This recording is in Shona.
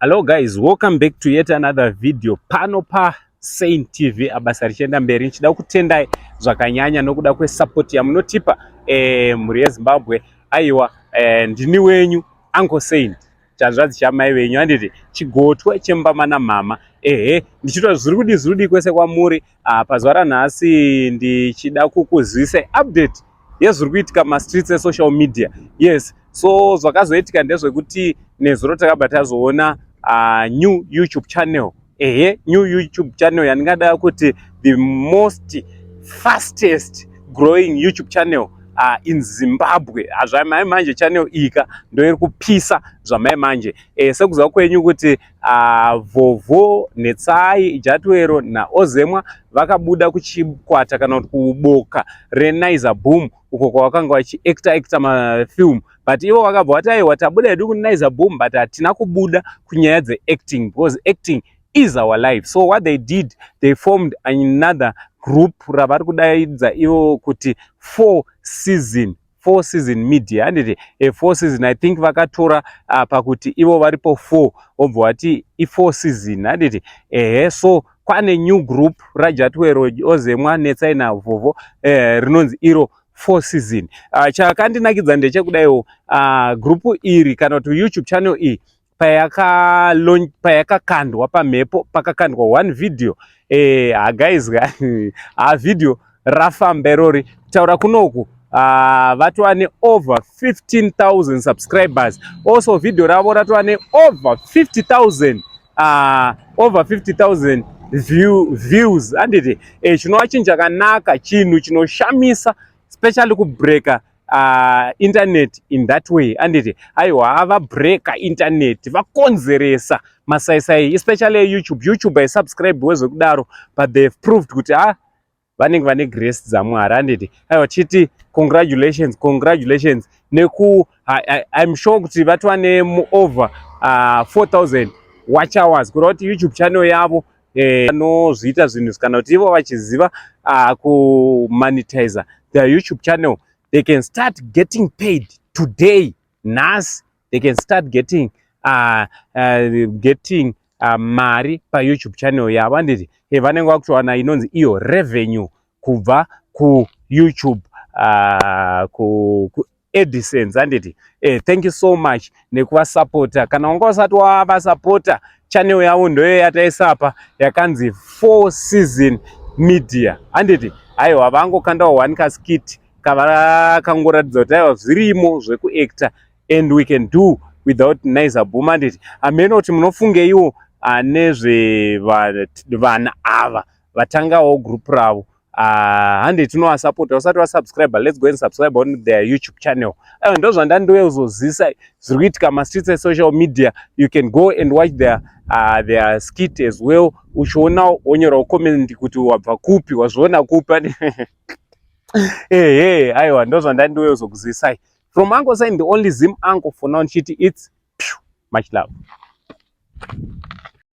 Hello guys, welcome back to yet another video pano pa Saint TV abasa richienda mberi nichida kutendai zvakanyanya nokuda kwesupport yamunotipa eh, mhuri yeZimbabwe aiwa eh, ndini wenyu Uncle Saint chanzvadzi chamai venyu anditi chigotwe chembama namama ehe ndichitwa zviri kudii zviri kudii kwese kwamuri Ah, pazuva ranhasi ndichida kukuzivisa update yezviri kuitika mumastreets esocial media yes so zvakazoitika ndezvekuti nezuro takabva tazoona uh, new youtube channel ehe new youtube channel yandingada kuti the most fastest growing youtube channel uh, in zimbabwe ah, zvamai manje channel iyika ndoiri kupisa zvamai manje e, sekuziva kwenyu kuti uh, Vhovho, Netsai, Jatwero naOzemwa vakabuda kuchikwata kana kuti kuboka reNizer Boom uko kwavakanga vachiacta acta mafilm but ivo vakabva vati aiwa tabuda hedu kuNizer Boom but hatina kubuda kunyaya dzeacting because acting is our life so what they did they formed another group ravari kudaidza ivo kuti four season four season media handiti e four season i think vakatora uh, pakuti ivo varipo four obva wati ifour season handiti ehe so kwane new group rajatwero ozemwa netsai navovo eh, rinonzi iro four season uh, chakandinakidza ndechekudaiwo uh, group iri kana kuti youtube channel iyi payakakandwa pamhepo pakakandwa one video eh, ha guys ha ah, video rafamba irori kutaura kunoku ah, vatova neover 15000 subscribers also video ravo ratova neover 50000 ah, over 50000 view, views handiti eh, chinova chinhu chakanaka chinhu chinoshamisa especially kubreaker uh, internet in that way anditi aiwa ava breaker internet vakonzeresa masaisai especially youtube youtube aisubscribe wezvekudaro but they have proved kuti ah vanenge vane grace dzamwari anditi aiwa chiti congratulations congratulations neku im sure kuti vatova neover uh, 4000 watch hours kureva kuti youtube channel yavo eh, vanozviita eh, zvinhu kana kuti ivo vachiziva uh, kumonetizer their youtube channel they can start getting paid today nhasi they can start getting uh, uh, getting uh, mari payoutube channel yavo anditi hey, vanenge vakutowana inonzi iyo revenue kubva kuyoutube uh, ku, ku Edisons handiti eh, thank you so much nekuvasapota kana wanga usati wavasapota channel yavo ndoyo yataisapa yakanzi four season media handiti haiwa vangokandawo one kaskit kavakangoratidza kuti aiwa zvirimo zvekuactor and we can do without nice abhuma handiti hameno kuti munofungeiwo anezve vana ava vatangawo group ravo Ah, hande tinoasapota usati wasubscribe let's go and subscribe on their youtube channel eh, ndo zvandandiwe kuzozisa zviri kuitika mastreets esocial media you can go and watch their, uh, their skit as well uchiona wonyorawo comment kuti wabva kupi wazviona kupi ani ehe aiwa ndo zvandandiwe kuzokuzisai from uncle sign the only zim uncle for now ndichiti its much love